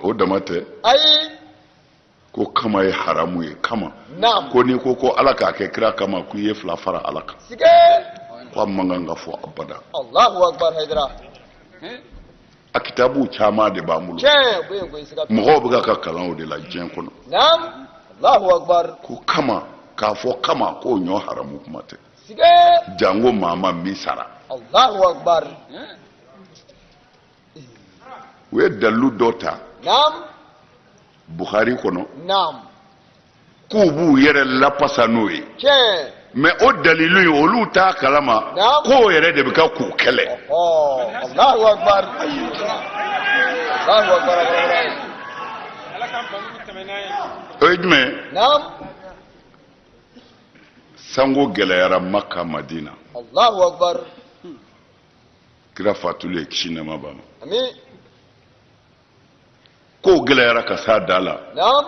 o dama tɛ ayi ko kama ye haramu ye kama ko n'i ko ko ala k'a kɛ kira kama k'i ye fila fara ala kan ko a man kan ka fɔ abada a kitabu caman de b'an bolo mɔgɔw bɛ ka kalan o de la diɲɛ kɔnɔ ko kama k'a fɔ kama k'o ɲɔɔn haramu kuma tɛ jango maa maa min sara u ye dalilu dɔ ta buhari kɔnɔ k'u b'u yɛrɛ lafasa n'o ye mais o dalilu in olu t'a kalama k'o yɛrɛ de bɛ ka k'u kɛlɛ o ye jumɛn sango gɛlɛyara maka madina allahu akbar kira fatulen ye kisi nɛma b'a ma amin kow gɛlɛyara ka s'a da la naam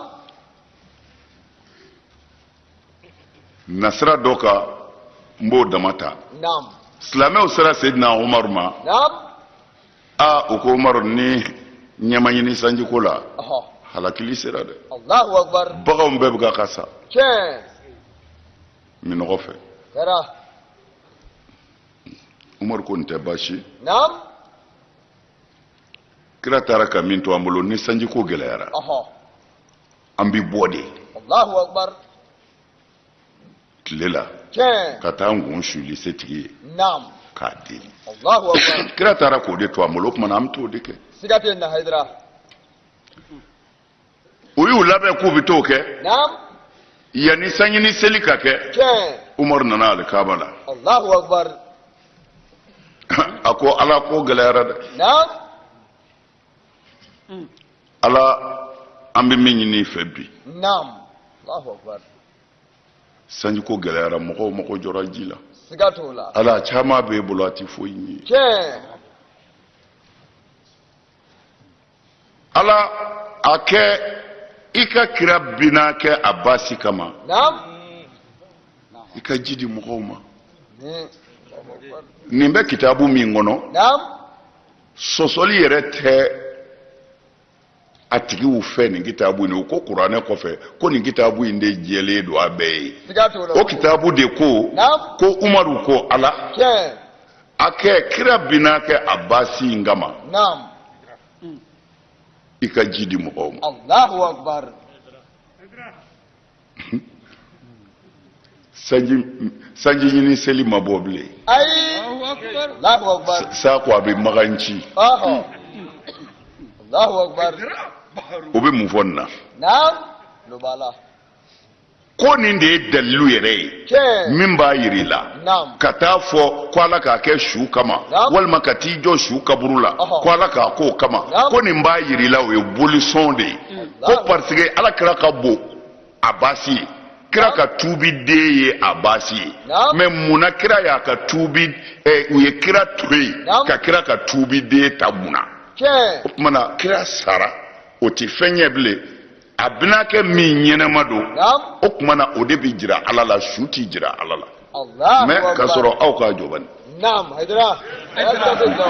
nasira dɔ ka n b'o dama ta naam silamɛw sera sedina umaru ma naam aa u ko umaru ni ɲɛ ma ɲini sanjiko la Ɔhɔ. halakili sera dɛ Allahu akbar. baganw bɛɛ bɛ ka ka sa Tiɲɛ. minnɔgɔ fɛ Kɛra. umaru ko nin tɛ baasi. Naam. kira taara ka min to an bolo ni sanjiko gɛlɛyara Ɔhɔ. an bɛ bɔ de Allahu akbar. tile la ka taa an kun suli setigi ye k'a deli kira taara k'o de to an bolo o tuma na an bɛ t'o de kɛ u y'u labɛn k'u bɛ t'o kɛ yanni sanji ɲini seli ka kɛ umaru nana alikaaba la a ko ala ko gɛlɛyara dɛ ala an bɛ min ɲini i fɛ bi sanjiko gɛlɛyara mɔgɔw mago jɔra ji la siga t'o la ala caman b'e bolo a tɛ foyi ye tiɲɛ ala a kɛ i ka kira binaakɛ abasi kama naam i ka ji di mɔgɔw ma Hmm. nin bɛ kitabu min kɔnɔ naam sɔsɔli yɛrɛ tɛ a tigiw fɛ nin kitabu in u ko kuranɛ kɔfɛ ko nin kitabu in de jɛlen don a bɛɛ ye o kitabu de ko ko umaru ko ala a kɛ kira binaakɛ abasi in kama i ka ji di mɔgɔw ma sanji sanji ɲini seli ma bɔ bilen ayi Allahu akbar sa ko a bɛ magan ci ɔhɔ Allahu akbar o bɛ mun fɔ nin na naam olu b'a la ko nin de ye dalilu yɛrɛ ye tiɲɛ min b'a jira i la naam ka taa fɔ ko ala k'a kɛ su kama Naam. walima ka t'i jɔ su kaburu la Ɔhɔ. ko ala k'a k'o kama Naam. ko nin b'a jira i la o ye bolisɔn de ye ko Naam. parce que ala kira ka bon abasi ye kira ka tuubiden ye abasi ye mais mun na kira y'a ka tuubi eh, u ye kira to yen ka kira ka tuubiden ta mun na o tuma na kira sara o tɛ fɛn ɲɛ bilen a binaakɛ min ɲɛnama don o tuma na o de bɛ jira ala la su tɛ jira ala la mais k'a sɔrɔ aw k'a jɔ bani. naam hayidara hayidara bɛ jɔ.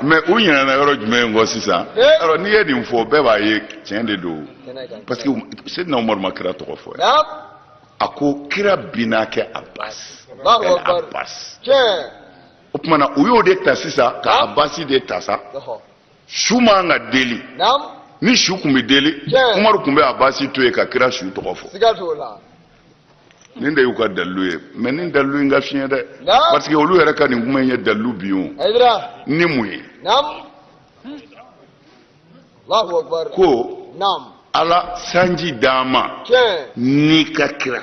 mais u ɲinɛna yɔrɔ jumɛn kɔ sisan alors n'i ye nin fɔ bɛɛ b'a ye tiɲɛ de don parce que seyidina umaru ma kira tɔgɔ fɔ yan a ko kira binaakɛ abasi abasi o tuma na u y'o de ta sisan ka abasi de ta sa su man ka deli ni su tun bɛ deli umaru tun bɛ abasi to yen ka kira su tɔgɔ fɔ nin de y'u ka dalilu ye mais nin dalilu in ka fiɲɛ dɛ parce que olu yɛrɛ ka nin kuma in ye dalilu bin ye ni mun ye ko ala sanji d'an ma n'i ka kira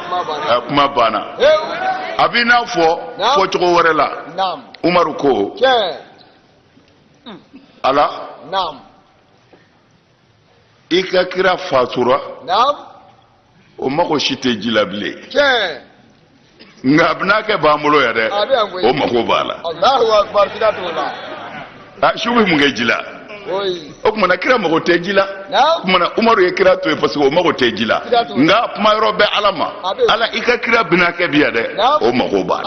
kuma banna a b'i n'a fɔ fɔcogo wɛrɛ la umaru ko ala i ka kira fatura o mago si tɛ ji la bilen nka a binaakɛ b'an bolo yan dɛ o mago b'a la a su bɛ mun kɛ ji la o tumana kira mago tɛ ji la o tumana umaru ye kira to yen parce que o mago tɛ ji la nka kuma yɔrɔ bɛ ala ma ala i ka kira binaakɛ bi yan dɛ o mago b'a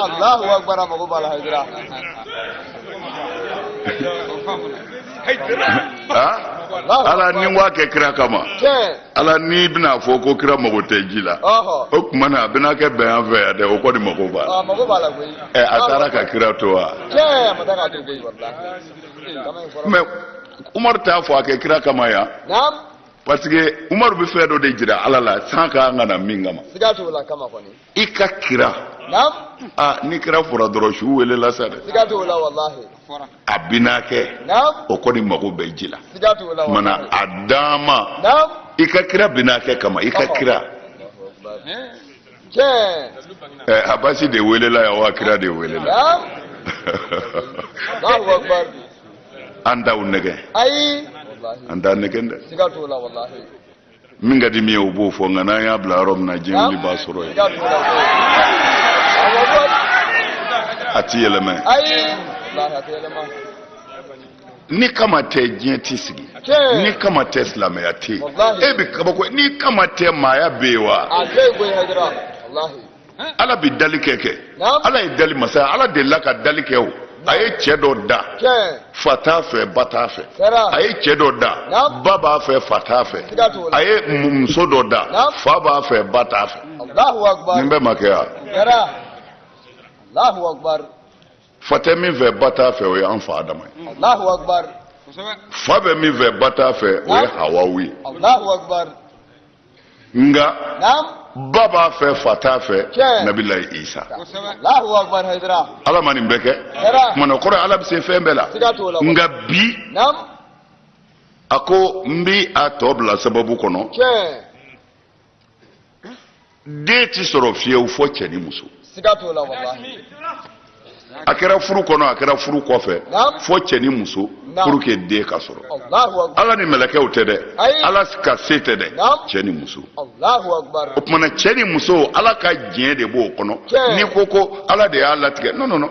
la ala ni wa kɛ kira kama ala n'i bɛna a fɔ ko kira mago tɛ ji la o tuma na a binaakɛ bɛ an fɛ yan dɛ o kɔni mago b'a la ɛ a taara ka kira to wa mais umaru t'a fɔ a kɛ kira kama yan parce que umaru bɛ fɛn dɔ de jira ala la san ka kan ka na min kama i ka kira aa ni kira fɔra dɔrɔn su welela sa dɛ a binaakɛ o kɔni mago bɛ ji la mana a dan ma i ka kira binaakɛ kama i ka kira eh, abasi de welela yan wa kira de welela an t'aw nɛgɛn an t'a nɛgɛn dɛ min ka di min ye o b'o fɔ nka n'an y'a bila yɔrɔ min na diɲɛ wuli b'a sɔrɔ yen a ti yɛlɛmɛ ni kama tɛ diɲɛ ti sigi ni kama tɛ silamɛya tɛ yen e bɛ kabako ni kama tɛ maaya bɛ yen wa ala bɛ dali kɛ kɛ ala ye dali masa ye ala delila ka dali kɛ o a ye cɛ dɔ da fa t'a fɛ ba t'a fɛ a ye cɛ dɔ da ba b'a fɛ fa t'a fɛ a ye muso dɔ da fa b'a fɛ ba t'a fɛ nin bɛɛ ma kɛ wa fa tɛ min fɛ ba t'a fɛ o ye an fa adama ye Allahu akbar kosɛbɛ fa bɛ min fɛ ba t'a fɛ o ye hawawu ye Allahu akbar nka naam ba b'a fɛ fa t'a fɛ Tiɲɛ. nabilayi isa kosɛbɛ Allahu akbar haydara ala ma nin bɛɛ kɛ Kɛra. kumana kɔrɔ ala bɛ se fɛn bɛɛ la siga t'o la nka bi naam a ko n bi a tɔ bila sababu kɔnɔ tiɲɛ den ti sɔrɔ fiyewu fɔ cɛ ni muso siga t'o la walahi a kɛra furu kɔnɔ a kɛra furu kɔfɛ Naam. fɔ cɛ ni muso Naam. pour que den ka sɔrɔ Allahu akbar ala ni mɛlɛkɛw tɛ dɛ Ayi. ala ka se tɛ dɛ Naam. cɛ ni muso Allahu akbar o tumana cɛ ni muso ala ka diɲɛ de b'o kɔnɔ Tiɲɛ. n'i ko ko ala de y'a latigɛ non non non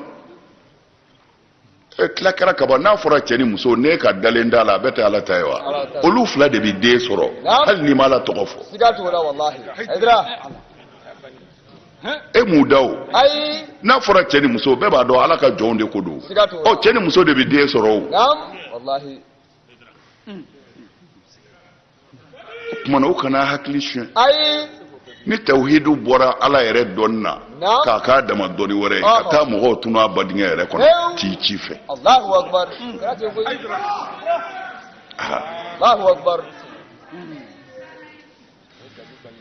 e tila kɛra kaban n'a fɔra cɛ ni muso ne ka dalen da la a bɛɛ tɛ ala ta ye wa olu fila de bɛ den sɔrɔ hali n'i ma ala tɔgɔ fɔ e m'u da o n'a fɔra cɛ ni muso bɛɛ b'a dɔn ala ka jɔnw de ko don ɔ cɛ ni muso de bɛ den sɔrɔ o tumana u kana hakili suɲɛ ayi ni tawhidu bɔra ala yɛrɛ dɔnni na k'a k'a dama dɔnni wɛrɛ ye ka taa mɔgɔw tunun a badingɛ yɛrɛ kɔnɔ k'i ci fɛ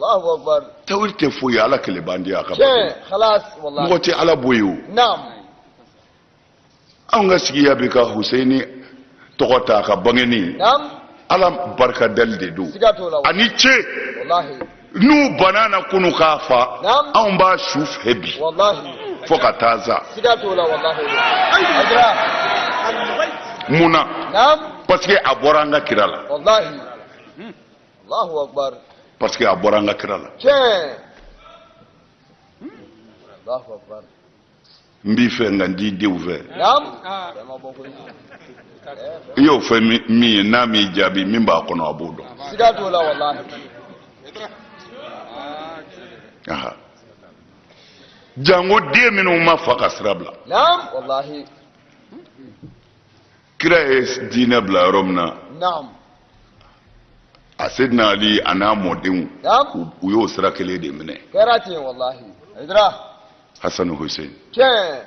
Allahu akbar tawhid tɛ foyi ye ala kelen b'an di a ka bato tiɲɛ la khalas wallahi mɔgɔ tɛ ala bɔ yen o naam anw ka sigiya bɛ ka huseyini tɔgɔ ta a ka bangenni naam ala barika dali de don siga t'o la ani ce wallahi n'u banna na kunu k'a fa Naam. anw b'a su fɛ bi wallahi fo ka taa sa siga t'o la wallahi haydara mun na naam parce que a bɔra an ka kira la wallahi parce que a bɔra an ka kira la n b'i fɛ nka n t'i denw fɛ i y'o fɔ min ye n'a m'i jaabi min b'a kɔnɔ a b'o dɔn jango den minnu ma fa ka sira bila kira ye diinɛ bila yɔrɔ min na naam a sedina ali a n'a mɔdenw naam u- u y'o sira kelen de minɛ kɛra ten walahi ayidara hasanu hussein tiɲɛ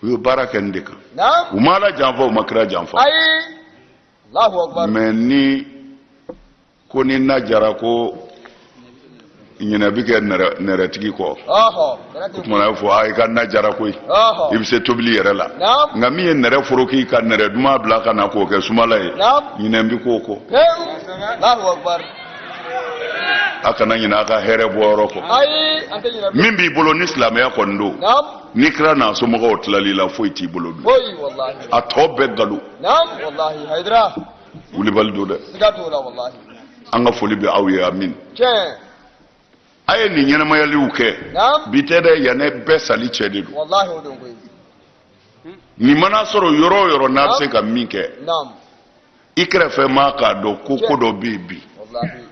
u ye baara kɛ nin de kan naam u ma ala janfa u ma kira janfa ayi alahu akubar mais ni ko ni na jara ko ɲinɛ bi kɛ nɛrɛtigi kɔ o tuma na fɔ a i ka na jara koyi i bɛ se tobili yɛrɛ la nka min ye nɛrɛ foroki ka nɛrɛ duman bila ka na k'o kɛ sumala ye ɲinɛ bi k'o kɔ a kana ɲinɛ a ka hɛrɛ bɔyɔrɔ kɔ min b'i bolo ni silamɛya kɔni don ni kira n'a somɔgɔw tilal'i la foyi t'i bolo bilen a tɔ bɛɛ nkalon wulibali don dɛ siga t'o la walahi an ka foli bɛ aw ye amin tiɲɛ a ye nin ɲɛnamayaliw kɛ naam bi tɛ dɛ yanni bɛɛ sali cɛ de don walahi o don koyi nin mana sɔrɔ yɔrɔ o yɔrɔ n'a bɛ se ka min kɛ naam i kɛrɛfɛ maa k'a dɔn ko ko dɔ bɛ yen bi walahi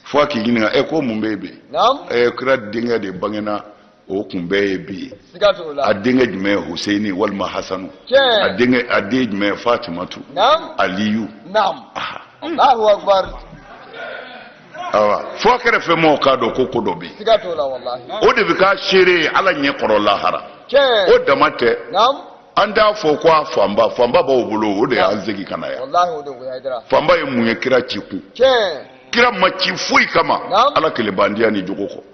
fo a k'i ɲininka ɛ ko mun bɛ yen bi naam ɛ kira denkɛ de bangena o kun bɛɛ ye bi ye a denkɛ jumɛn ye huseyini walima hasanu a denkɛ a den jumɛn ye fatimatu aliyu awa fo a kɛrɛfɛ mɔgɔw k'a dɔn ko ko dɔ bɛ yen o de bɛ k'a seere ye ala ɲɛ kɔrɔ lahara o dama tɛ an t'a fɔ ko a fanba fanba b'aw bolo o de y'an segin ka na yan fanba ye mun ye kira ci kun kira ma ci foyi kama ala kelen bandiya ni jogo kɔ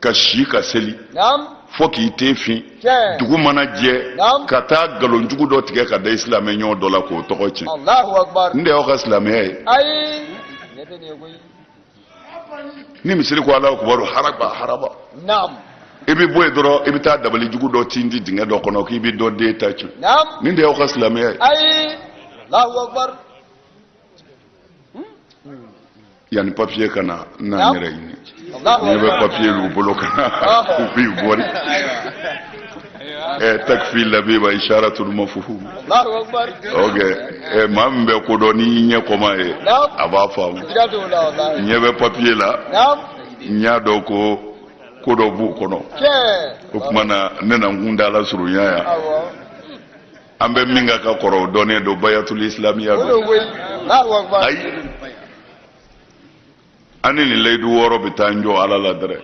ka si ka seli fo k'i ten fin dugu mana jɛ ka taa nkalonjugu dɔ tigɛ ka da i silamɛ ɲɔgɔn dɔ la k'o tɔgɔ tiɲɛ nin de y'aw ka silamɛya ye ni misiri ko alahu akubaru haraba haraba i bɛ bɔ yen dɔrɔn i bɛ taa dabali jugu dɔ tindi dingɛ dɔ kɔnɔ k'i bɛ dɔ den ta tiɲɛ nin de y'aw ka silamɛya ye yanni papiye ka na n na n yɛrɛ ɲini ne bɛ papiye y'u bolo ka na u b'i bɔri ɛ takifi labiba isharatul mafhum ok ɛ maa min bɛ ko dɔn n'i ɲɛ kɔm'a ye a b'a faamu n ɲɛ bɛ papiye la n y'a dɔn ko ko dɔ b'u kɔnɔ o tuma na ne na n kuntaala surunya yan an bɛ min kan ka kɔrɔ o dɔnnen don bayatul islamiya don ayi an ni nin layidu wɔɔrɔ bɛ taa n jɔ ala la dɛrɛ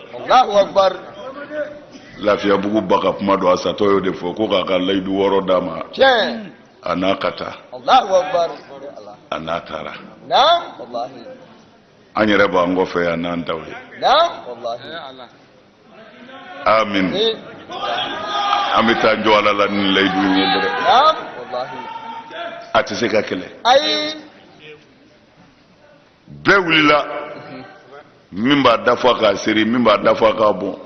lafiyabugu ba ka kuma don a satɔ y'o de fɔ ko k'a ka layidu wɔɔrɔ d'a ma a n'a ka taa a n'a taara an yɛrɛ b'an kɔfɛ yan n'an taw ye amin an bɛ taa jɔ ala la ni layidu in ye dɛrɛ a tɛ se ka kɛlɛ bɛɛ wulila min b'a da fa k'a seri min b'a da fa k'a bɔn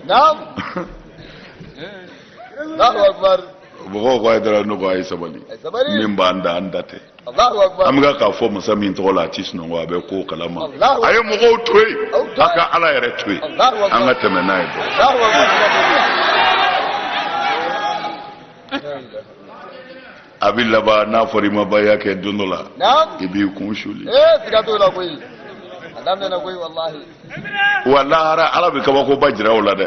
mɔgɔw ko ayidara ne ko a ye sabali min b'an da an ta tɛ an bɛ k'a fɔ masa min tɔgɔ la a tɛ sunɔgɔ a bɛ ko kalama a ye mɔgɔw to yen a ka ala yɛrɛ to yen an ka tɛmɛ n'a ye dɔrɔn a bɛ laban n'a fɔra i ma baya kɛ don dɔ la i b'i kun suli wa lahara ala bɛ kabakoba jira o la dɛ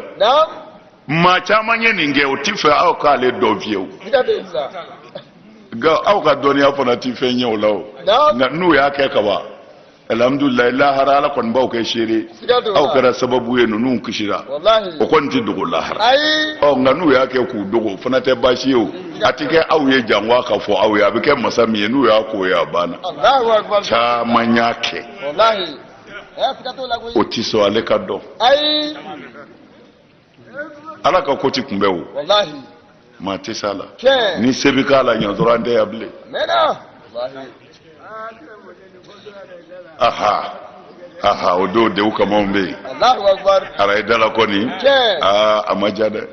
maa caman ye nin kɛ o tɛ fɛ aw k'ale dɔn fiyewu nka aw ka dɔnniya fana tɛ fɛn ɲɛ o la o nka n'u y'a kɛ ka ban alihamudulilayi lahara ala kɔni b'aw kɛ seere aw kɛra sababu ye ninnu kisira o kɔni tɛ dogo lahara ɔ nka n'u y'a kɛ k'u dogo o fana tɛ baasi ye o a tɛ kɛ aw ye jango a ka fɔ aw ye a bɛ kɛ masa min ye n'u y'a k'o ye a banna caman y'a kɛ o tɛ sɔn ale ka dɔn. ala ka ko ti kunbɛ o maa tɛ s'a la ni se bɛ k'a la ɲɛ dɔrɔn an tɛ yan bilen aha aha o don dew kamaw bɛ yen araye dala kɔni aa a ma ja dɛ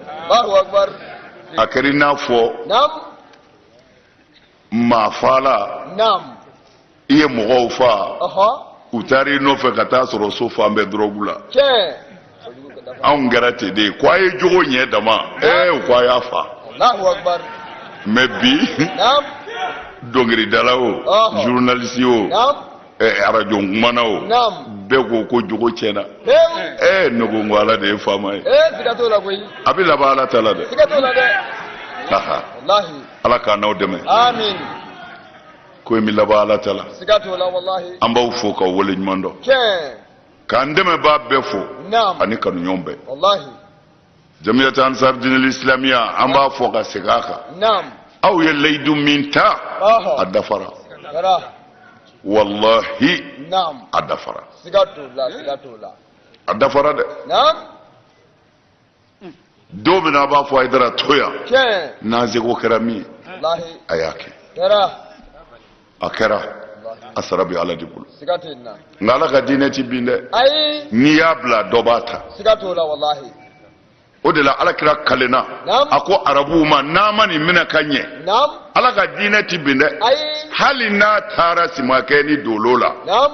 a kɛra i n'a fɔ maafaala naam i ye mɔgɔw faa ɔhɔ u taara i nɔfɛ ka taa sɔrɔ so fan bɛɛ dɔrɔgu la tiɲɛ anw kɛra ten de ye ko a ye jogo ɲɛ dama ee u ko a y'a faa alahu akubar mɛ bi naam dɔnkiridala o Ɔhɔ. journaliste o naam arajo kumana o bɛɛ ko ko jogo tiɲɛna ee ne ko ko ala de ye faama ye a bɛ laban ala ta la dɛ ala k'an n'aw dɛmɛ ko in bɛ laban ala ta la an b'aw fo k'aw wale ɲuman dɔn k'an dɛmɛbaa bɛɛ fo ani kanuɲɔgɔn bɛɛ jamiyat ansar dinil islamiya an b'a fɔ ka segin a kan naam aw ye layidu min ta Ɔhɔ. a dafara kɛra walahi naam a dafara siga t'o la siga t'o la a dafara dɛ naam don min na a b'a fɔ ayidara to yan tiɲɛ n'an seko kɛra min ye walahi a y'a kɛ kɛra a kɛra a sara bɛ ala de bolo nka ala ka diinɛ ti bin dɛ n'i y'a bila dɔ b'a ta o de la ala kira kalenna a ko arabuw ma n'an ma nin minɛ ka ɲɛ ala ka diinɛ ti bin dɛ hali n'a taara simakɛ ni dolo la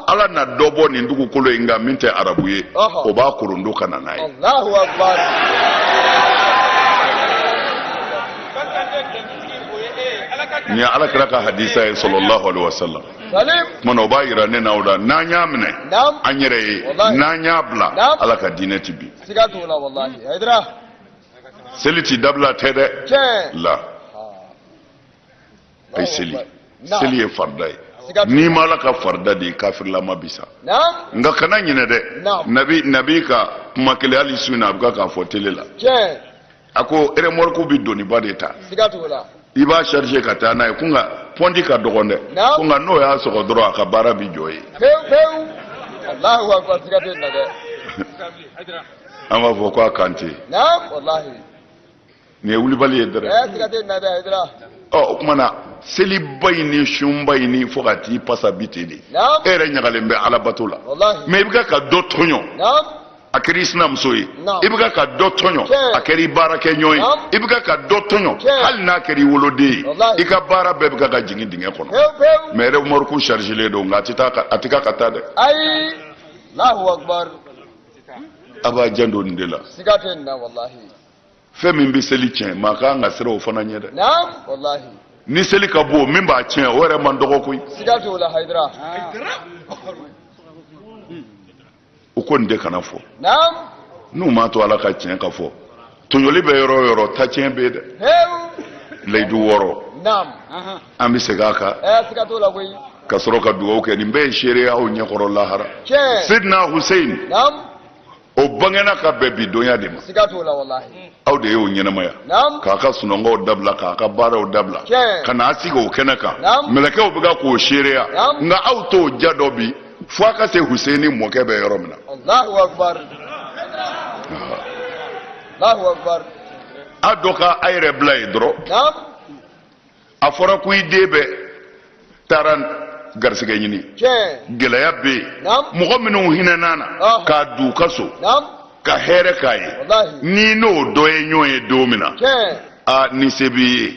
ala na dɔ bɔ nin dugukolo in kan min tɛ arabu ye o b'a korondo ka na n'a ye nin ye ala kira ka hadisa ye sallallahu alaihi wasallam kuma na o b'a yira ne na o la n'an y'a minɛ an yɛrɛ ye n'an y'a bila ala ka diinɛ ti bin seli ti dabila ten dɛ la ayi seli seli ye farida ye n'i ma ala ka farida di i kafirlama bi sa nka kana ɲinɛ dɛ nabi nabi ka kuma kelen hali su in na a bɛ ka k'a fɔ tele la a ko remorque bɛ doniba de ta siga t'o la i b'a charger ka taa n'a ye ko nka pɔnti ka dɔgɔn dɛ Naamu. ko nka n'o y'a sɔgɔ dɔrɔn a ka baara bɛ jɔ yen pewu pewu alahu akubar siga t'o la dɛ an b'a fɔ ko a kan tɛ yen naam walahi nin ye wulibali ye dɛrɛ ɛɛ siga t'o la dɛ ayidara ɔ o tuma na seliba in ni sunba in ni fo ka t'i pasa bi ten de naam e yɛrɛ ɲagalen bɛ alabato la walahi mɛ i bɛ ka ka dɔ tɔɲɔ naam a kɛra i sinamuso ye i bɛ ka dɔ tɔɲɔ a kɛra i baarakɛ ɲɔgɔn ye i bɛ ka dɔ tɔɲɔ hali n'a kɛra i woloden ye i ka baara bɛɛ bɛ ka jigin dingɛ kɔnɔ mɛ remorque chargerlen don nka a tɛ taa a tɛ ka ka taa dɛ a b'a janto nin de la fɛn min bɛ seli tiɲɛ maa ka kan ka siran o fana ɲɛ dɛ ni seli ka bon min b'a tiɲɛ o yɛrɛ man dɔgɔ koyi u ko n de kana fɔ n'u m'a to ala ka tiɲɛ ka fɔ tɔɲɔli bɛ yɔrɔ o yɔrɔ tacɛn bɛ yen dɛ layidu wɔɔrɔ an bɛ segin a kan ka sɔrɔ ka dugawu kɛ nin bɛɛ ye seereya aw ɲɛkɔrɔ lahara sidina husein o bangena ka bɛn bi donya de ma aw de y'o ɲɛnamaya k'a ka sunɔgɔw dabila k'a ka baaraw dabila ka n'a sigi o kɛnɛ kan mɛlɛkɛw bɛ ka k'o seereya nka aw t'o ja dɔn bi fo a ka se huseni mɔkɛ bɛ yɔrɔ min na a dɔ ka a yɛrɛ bila yen dɔrɔn a fɔra ko i den bɛ taara garisɛgɛ ɲini gɛlɛya bɛ yen mɔgɔ minnu hinɛna a na k'a don u ka so ka hɛrɛ k'a ye n'i n'o dɔ ye ɲɔgɔn ye don min na aa ni se b'i ye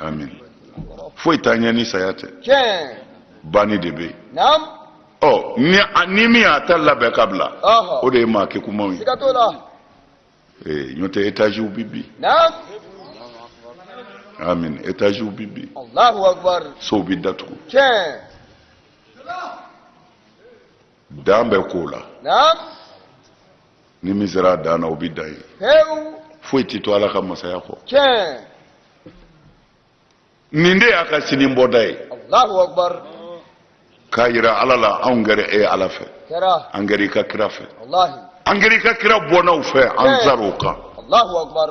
amin foyi t'an ɲɛ ni saya tɛ banni de bɛ yen ɔ ni ni min y'a ta labɛn ka bila o de ye maa kegunmanw ye ee ɲɔ tɛ etaziw bi bin amin etaziw bi bin sow bi datugu dan bɛ ko la naam ni min sera a dan na o bɛ dan yen pewu foyi tɛ to ala ka masaya kɔ tiɲɛ nin de y'a ka sini bɔda ye alahu akubar k'a yira ala la anw kɛra e ala fɛ kɛra an kɛra i ka kira fɛ walahi an kɛra i ka kira bɔnnaw fɛ an tiɲɛ sar'o kan alahu akubar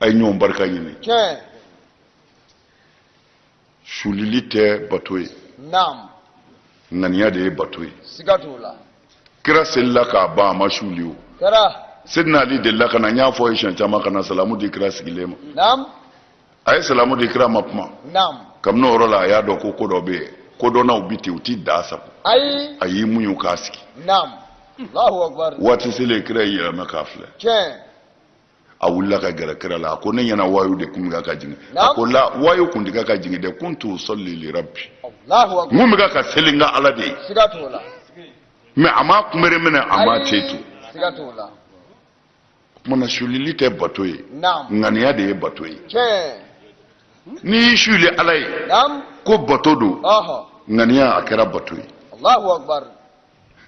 a ye ɲɔgɔn barika ɲini tiɲɛ sulili tɛ bato ye naam ŋaniya de ye bato ye siga t'o la kira selila ka ban a ma suli o kɛra sidina ali delila ka na n y'a fɔ a ye siɲɛ caman ka na salamu di kira sigilen ma naam a ye salamu di kira ma kuma naam kabini o yɔrɔ la a y'a dɔn ko ko dɔ bɛ yen kodɔnnaw bɛ ten u t'i da sago ayi a y'i muɲu k'a sigi naam alahu akubar waati selen kira y'i yɛlɛma k'a filɛ tiɲɛ a wulila ka gɛrɛ kira la a ko ne ɲɛ na wayu de kun bɛ ka jigin a ko la wayu kun tɛ ka jigin dɛ kuntu usalli li rabbi n kun bɛ ka seli n ka ala de ye mɛ a ma kunbere minɛ a ma ten tu o tuma na sulili tɛ bato ye ŋaniya de ye bato ye n'i y'i suli ala ye ko bato don ŋaniya a kɛra bato ye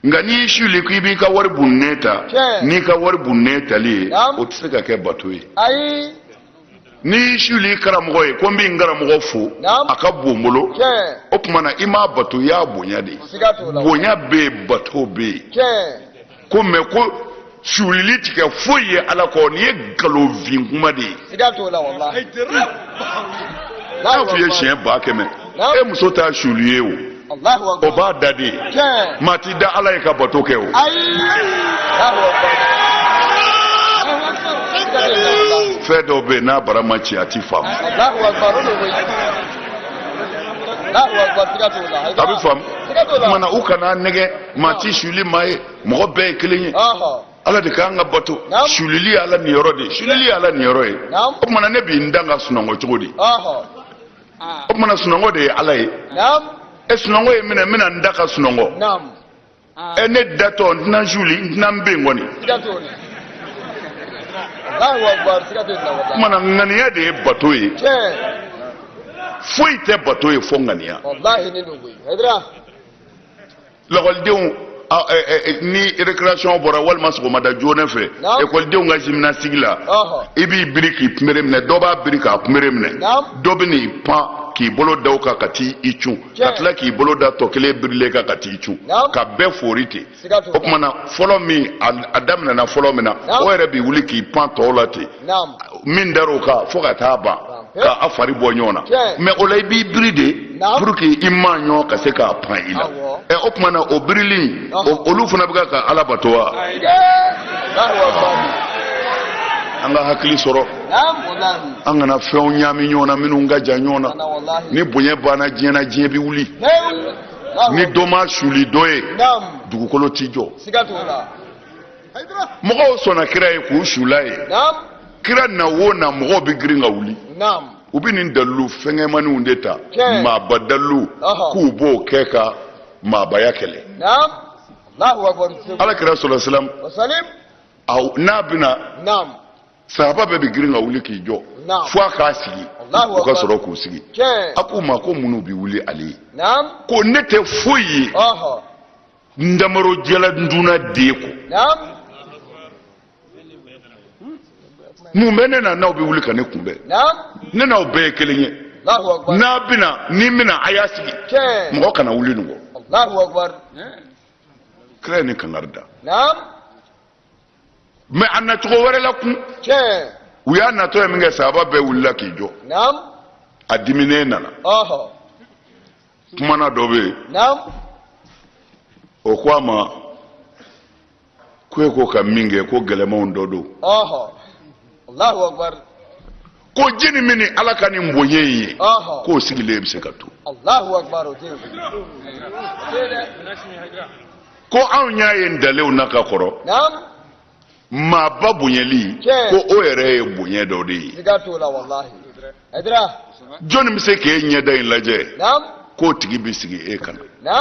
nka n'i y'i suli ko i b'i ka wari bunnen ta n'i ka wari bunnen tali ye o tɛ se ka kɛ bato ye n'i y'i suli i karamɔgɔ ye ko n bi n karamɔgɔ fo a ka bon n bolo o tuma na i m'a bato i y'a bonya de ye bonya bɛ yen bato bɛ yen ko mɛ ko sulili ti kɛ foyi ye ala kɔ nin ye nkalonfin kuma de ye n'a f'i ye siɲɛ ba kɛmɛ e muso t'a suli i ye o o b'a da d'e ye maa t'i da ala ye ka bato kɛ o fɛn dɔw bɛ yen n'a bara ma ci a tɛ faamu a bɛ faamu u kan'a nɛgɛn maa tɛ suli maa ye mɔgɔ bɛɛ ye kelen ye ala de k'an ka bato sulili ye ala niyɔrɔ de ye sulili ye ala niyɔrɔ ye o tumana ne bɛ n da ka sunɔgɔ cogo di o tumana sunɔgɔ de ye ala ye e sunɔgɔ ye n minɛ n bɛna n da ka sunɔgɔ ɛ ne datɔ n tɛna suli n tɛna n bɛ n kɔni o tumana ŋaniya de ye bato ye foyi tɛ bato ye fo ŋaniya lakɔlidenw ni récréation bɔra walima sɔgɔmada joona fɛ ekɔlidenw ka gymnastique la i b'i biri k'i kunbere minɛ dɔ b'a biri k'a kunbere minɛ dɔ bɛ n'i pan k'i bolo da o kan ka t'i cun ka tila k'i bolo da tɔ kelen birilen kan ka t'i cun ka bɛɛ foori ten o tuma na fɔlɔ min a daminɛna fɔlɔ min na o yɛrɛ b'i wuli k'i pan tɔw la ten min dar'o kan fo ka taa ban ka a fari bɔ ɲɔgɔn na mais o la i b'i biri de pour que i maa ɲɔgɔn ka se k'a pan i la ɛ o tuma na o birili olu fana bɛ ka ala bato wa an ka hakili sɔrɔ an kana fɛnw ɲaami ɲɔgɔn na minnu ka jan ɲɔgɔn na ni bonya banna diɲɛ na diɲɛ bɛ wuli ni dɔ ma suli dɔ ye dugukolo t'i jɔ mɔgɔw sɔnna kira ye k'u sul'a ye kira na o na mɔgɔw bɛ girin ka wuli u bɛ nin dalilu fɛngɛmaninw de ta maaba dalilu k'u b'o kɛ ka maabaya kɛlɛ ala kira salalahu wasalam n'a bɛna sahaba bɛɛ bɛ girin ka wuli k'i jɔ fo a k'a sigi u ka sɔrɔ k'u sigi a k'u ma ko mun n'u bɛ wuli ale ye ko ne tɛ foyi ye ndamaro jɛla nduna de ko mun bɛ ne na n'aw bɛ wuli ka ne kunbɛn ne n'aw bɛɛ ye kelen ye n'a bɛna ni n bɛna a y'a sigi mɔgɔ kana wuli nin kɔ kira ye nin kankari da mais a nacogo wɛrɛ la kun u y'a natɔ ye minkɛ sahaba bɛɛ wulila k'i jɔ a diminen nana kumana dɔ bɛ yen o ko a ma ko e ko ka min kɛ ko gɛlɛmanw dɔ don ko jɔnni bɛna ala ka nin bonya in ye k'o sigilen bɛ se ka to ko anw y'a ye ntalenw na ka kɔrɔ maaba bonyali ko o yɛrɛ ye bonya dɔ de ye jɔnni bɛ se k'e ɲɛda in lajɛ k'o tigi bɛ sigi e ka na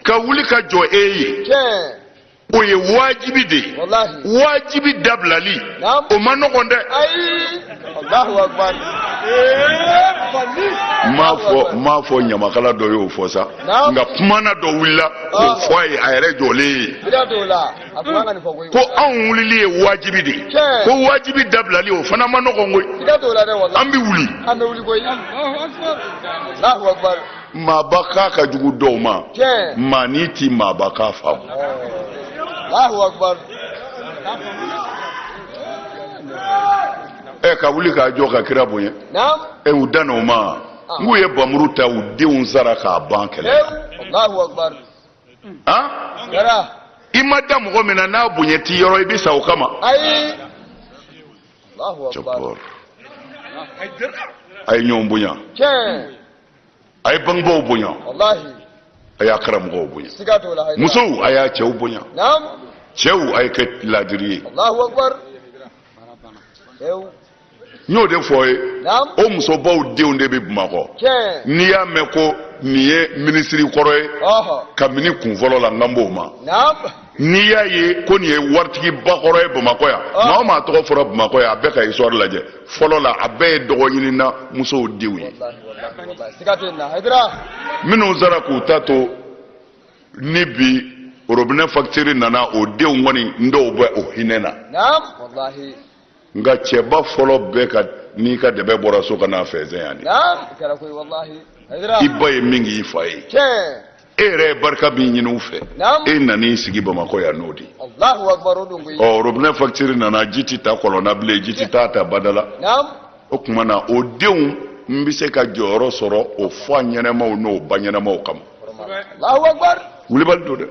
ka wuli ka jɔ e ye o ye wajibi de ye wajibi dabilali o ma nɔgɔn dɛ n m'a fɔ ɲamakala dɔ y'o fɔ sa nka kumana dɔ wulila k'o ah. fɔ a ye a yɛrɛ jɔlen ye hmm. ko anw wulili ye wajibi de ye ko wajibi dabilali o fana man nɔgɔn koyi an bɛ wuli maaba k'a ka jugu dɔw ma maa n'i ti maaba k'a faamu ɛ ka wuli ka jɔ ka kira bonya ɛ u dan o ma nk'u ye bamuru ta u denw sara k'a ban kɛlɛ i ma da mɔgɔ min na n'a bonya t'i yɔrɔ i bɛ sa o kama a ye ɲɔgɔn bonya a ye bangebaaw bonya a y'a karamɔgɔw bonya musow a y'a cɛw bonya cɛw a ye kɛ laadiri ye n y'o de fɔ ye o musobaw denw de bɛ bamakɔ n'i y'a mɛn ko nin ye minisiri kɔrɔ ye kabini kun fɔlɔ la n'an b'o ma n'i y'a ye ko nin ye waritigiba kɔrɔ ye bamakɔ yan maa o maa tɔgɔ fɔra bamakɔ yan a bɛɛ ka histoire lajɛ fɔlɔ la a bɛɛ ye dɔgɔɲinina musow denw ye minnu sara k'u ta to ni bi robinet facture nana o denw kɔni n dɔw bɛ o hinɛ na nka cɛba fɔlɔ bɛɛ ka n'i ka dɛbɛn bɔra so ka n'a fɛnsɛn yan de i ba ye min k'i fa ye e yɛrɛ ye barika min ɲini u fɛ e nan'i sigi bamakɔ yan n'o de ye ɔ robinɛ fakitiri nana ji tɛ ta kɔlɔn na bilen ji tɛ taa ta bada la o tuma na o denw bɛ se ka jɔyɔrɔ sɔrɔ o fa ɲɛnamaw n'o ba ɲɛnamaw kama wulibali don dɛ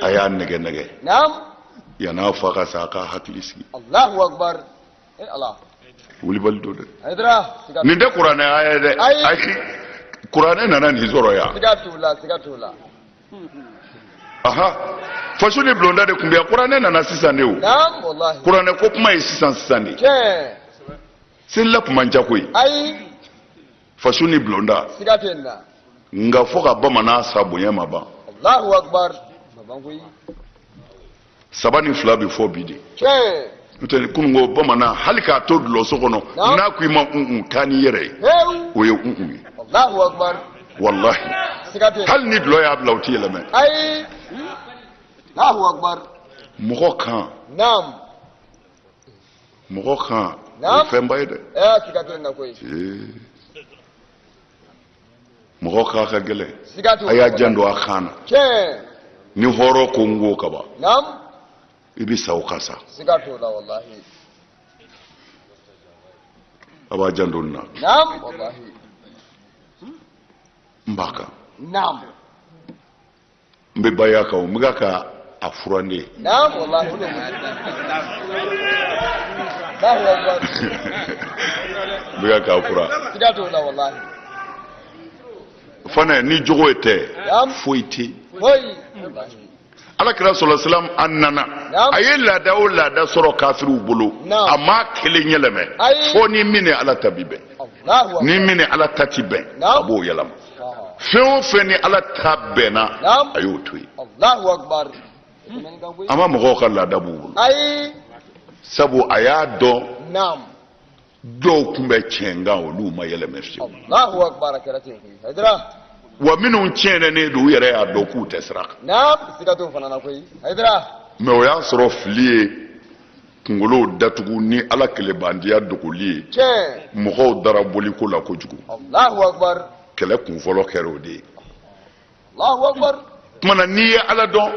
a y'a nɛgɛ nɛgɛ yan'a fa ka sa a k'a hakili sigi wulibali don dɛ nin tɛ kuranɛ aya ye dɛ ayi kuranɛ nana nin sɔrɔ yan aha faso ni bulonda de tun bɛ yan kuranɛ nana sisan de o kuranɛ ko kuma ye sisan sisan de selila tun man ca koyi faso ni bulonda siga tɛ nin na nka fo ka bamanan sa bonya ma ban alahu akubar a ma ban koyi saba ni fila bɛ fɔ bi de tiɲɛ n'o tɛ kunun ko bamanan hali k'a to dulɔso kɔnɔ Naamu. n'a ko i ma un-un taa n'i yɛrɛ ye hewu o ye un-un ye alahu akubar walahi siga tɛ hali ni dulɔ y'a bila o t'i yɛlɛmɛ ayi alahu akubar mɔgɔ kan naam mɔgɔ kan o ye fɛnba ye dɛ mɔgɔ kan ka gɛlɛn a y'a janto a kan na ni hɔrɔn ko n ko ka ban i bɛ sa o ka sa a b'a janto n na n b'a kan n bɛ baya kan o n bɛ ka ka a furan de n bɛ ka k'a furan fana ni jogo ye tɛ foyi tɛ ala kira sɔrɔ silam a nana a ye laada o laada sɔrɔ kafiriw bolo a ma kelen yɛlɛmɛ fo ni min ni ala ta ti bɛn ni min ni ala ta ti bɛn a b'o yɛlɛma fɛn o fɛn ni ala ta bɛnna a y'o to yen a ma mɔgɔw ka laada b'u bolo sabu a y'a dɔn dɔw tun bɛ tiɲɛ kan olu ma yɛlɛmɛ fiyewu wa minnu tiɲɛnen don u yɛrɛ y'a dɔn k'u tɛ sira kan mɛ o y'a sɔrɔ fili ye kungolow datugu ni ala kelebandiya dogoli ye mɔgɔw dara boliko la kojugu kɛlɛ kun fɔlɔ kɛra o de ye tumana n'i ye ala dɔn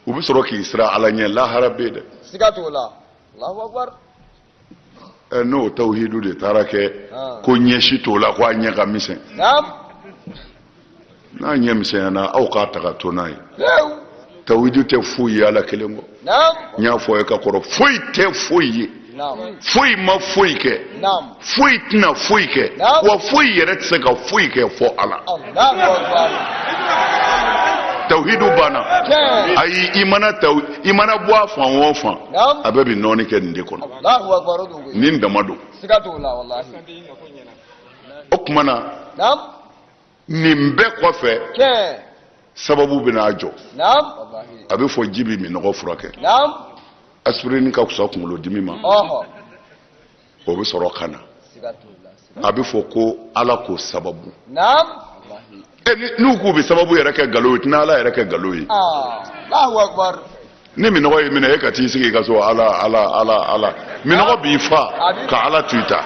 u bɛ sɔrɔ k'i siran ala ɲɛ lahara bɛ yen dɛ n'o tawhidu de taara kɛ ko ɲɛci t'o la ko a ɲɛ ka misɛn n'a ɲɛ misɛnyana aw k'a ta ka to n'a ye tawhidu tɛ foyi ye ala kelen kɔ n y'a fɔ i ye ka kɔrɔ foyi tɛ foyi ye foyi ma foyi kɛ foyi tɛna foyi kɛ wa foyi yɛrɛ tɛ se ka foyi kɛ fo ala tawhidu banna ayi i mana tawu i mana bɔ a fan o fan a bɛɛ bɛ nɔɔni kɛ nin de kɔnɔ nin dama don o tuma na nin bɛɛ kɔfɛ sababu bɛna jɔ a bɛ fɔ ji bɛ minɔgɔ furakɛ asipirini ka fisa kunkolodimi ma o bɛ sɔrɔ ka na a bɛ fɔ ko ala ko sababu n'u k'u bɛ sababu yɛrɛ kɛ nkalon ye tɛna ala yɛrɛ kɛ nkalon ye ni minɔgɔ y'i minɛ e ka t'i sigi i ka so ala ala ala ala minɔgɔ ah. b'i faa ka ala to i da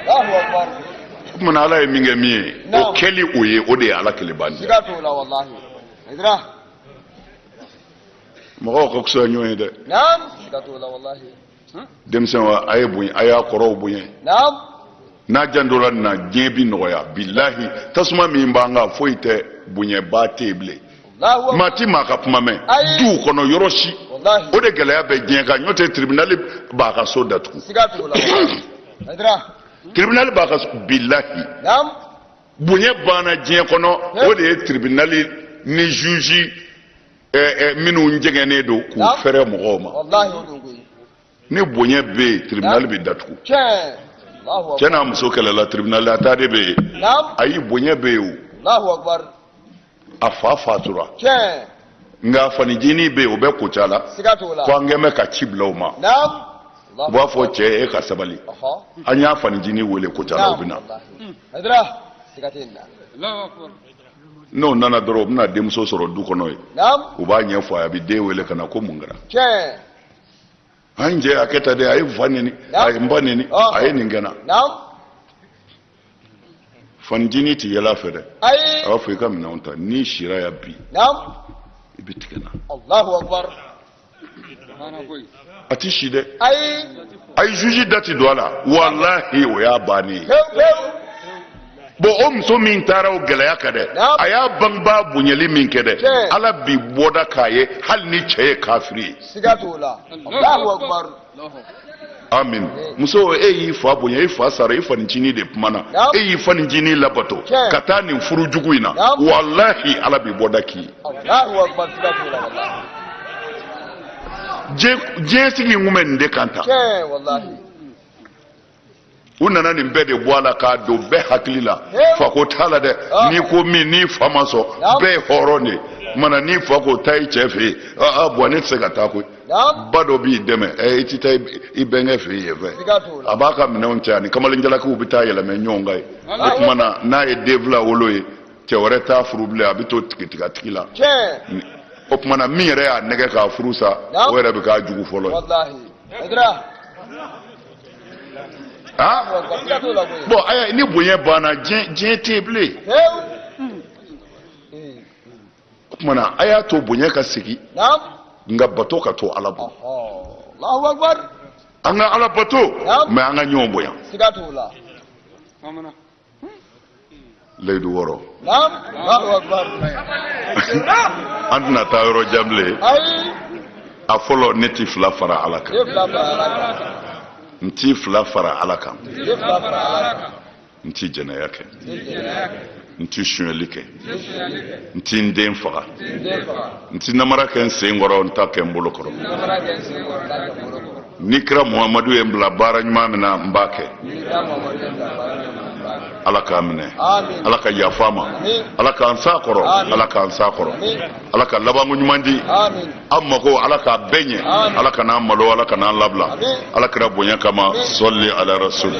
o tumana ala ye min kɛ min ye o kɛli o ye o de ye ala keleban ye mɔgɔw ka fisa ɲɔgɔn ye dɛ denmisɛnw a ye bonya a y'a kɔrɔw bonya n'a jantora nin na diɲɛ bi nɔgɔya bilahi tasuma min b'an kan foyi tɛ bonyaba tɛ yen bilen maa ti maa ka kuma mɛn duw kɔnɔ yɔrɔ si o de gɛlɛya bɛ diɲɛ kan n'o tɛ tiribinali b'a ka so datugu tiribinali b'a ka so bilahi bonya banna diɲɛ kɔnɔ o de ye tiribinali ni zuzi minnu jɛgɛnnen don k'u fɛrɛ mɔgɔw ma ni bonya bɛ yen tiribinali bɛ datugu cɛ n'a muso kɛlɛla tiribinali la taa de bɛ yen ayi bonya bɛ yen o a fa fatura nk'a fanicinin bɛ yen o bɛ kucala ko an kɛn bɛ ka ci bila o ma u b'a fɔ cɛ e ka sabali an y'a fanicinin wele kucala o bɛ na n'o nana dɔrɔn o bɛna denmuso sɔrɔ du kɔnɔ yen u b'a ɲɛfɔ a ye a bɛ den wele ka na ko mun kɛra an ye jɛ a kɛ tan dɛ a ye n fa neni a ye n ba neni a ye nin kɛ n na fanicinin tɛ yɛlɛ a fɛ dɛ a b'a fɔ i ka minɛnw ta n'i sira yan bi i bɛ tigɛ n na. a ti si dɛ a ye juge dati don a la walahi o y'a bannen ye bon o muso min taara o gɛlɛya kan dɛ a y'a bangebaa bonyali min kɛ dɛ ala bi bɔda k'a ye hali ni cɛ ye kafiri ye amin muso e y'i fa bonya e fa sara e fanicinin de kumana e y'i fanicinin labato ka taa nin furu jugu in na walahi ala bi bɔda k'i ye diɲɛ sigi in kun bɛ nin de kan tan u nana nin bɛɛ de bɔ a la k'a don bɛɛ hakili la fako t'a la dɛ ah. n'i ko min n'i fa ma sɔn bɛɛ ye hɔrɔn de ye o tuma na n'i fa ko taa i cɛ fɛ yen aa bɔn ne tɛ se ka taa koyi ba dɔ b'i dɛmɛ ɛ i tɛ taa i bɛnkɛ fɛ yen fɛ a b'a ka minɛnw cɛ a ni kamalen jalakiw bɛ taa yɛlɛmɛ ɲɔgɔn kan yen o tuma na n'a ye den fila wolo ye cɛ wɛrɛ t'a furu bilen a bɛ to tigitigatigi la o tuma na min yɛrɛ y'a nɛgɛn k'a furu sa o yɛrɛ bɛ k'a jugu fɔlɔ ye. ah bɔn ayi ni bonya banna diɲɛ diɲɛ tɛ yen bilen o tuma na a y'a to bonya ka segin nka bato ka to ala bolo an ka ala bato mɛ an ka ɲɔgɔn bonya. layidu wɔɔrɔ an tɛna taa yɔrɔ jan bilen a fɔlɔ ne ti fila fara ala kan n ti fila fara ala kan n ti jɛnɛya kɛ n ti sonyali kɛ n ti n den faga n ti namara kɛ n sen kɔrɔ n t'a kɛ n bolo kɔrɔ ni kira muhamadu ye n bila baara ɲuman min na n b'a kɛ ala k'a minɛ ala ka yafa ma ala k'an sa kɔrɔ ala k'an sa kɔrɔ ala ka labanko ɲuman di an mako ala k'a bɛɛ ɲɛ ala kan'an malo ala kan'an labila ala kira bonya kama sali ala rasuli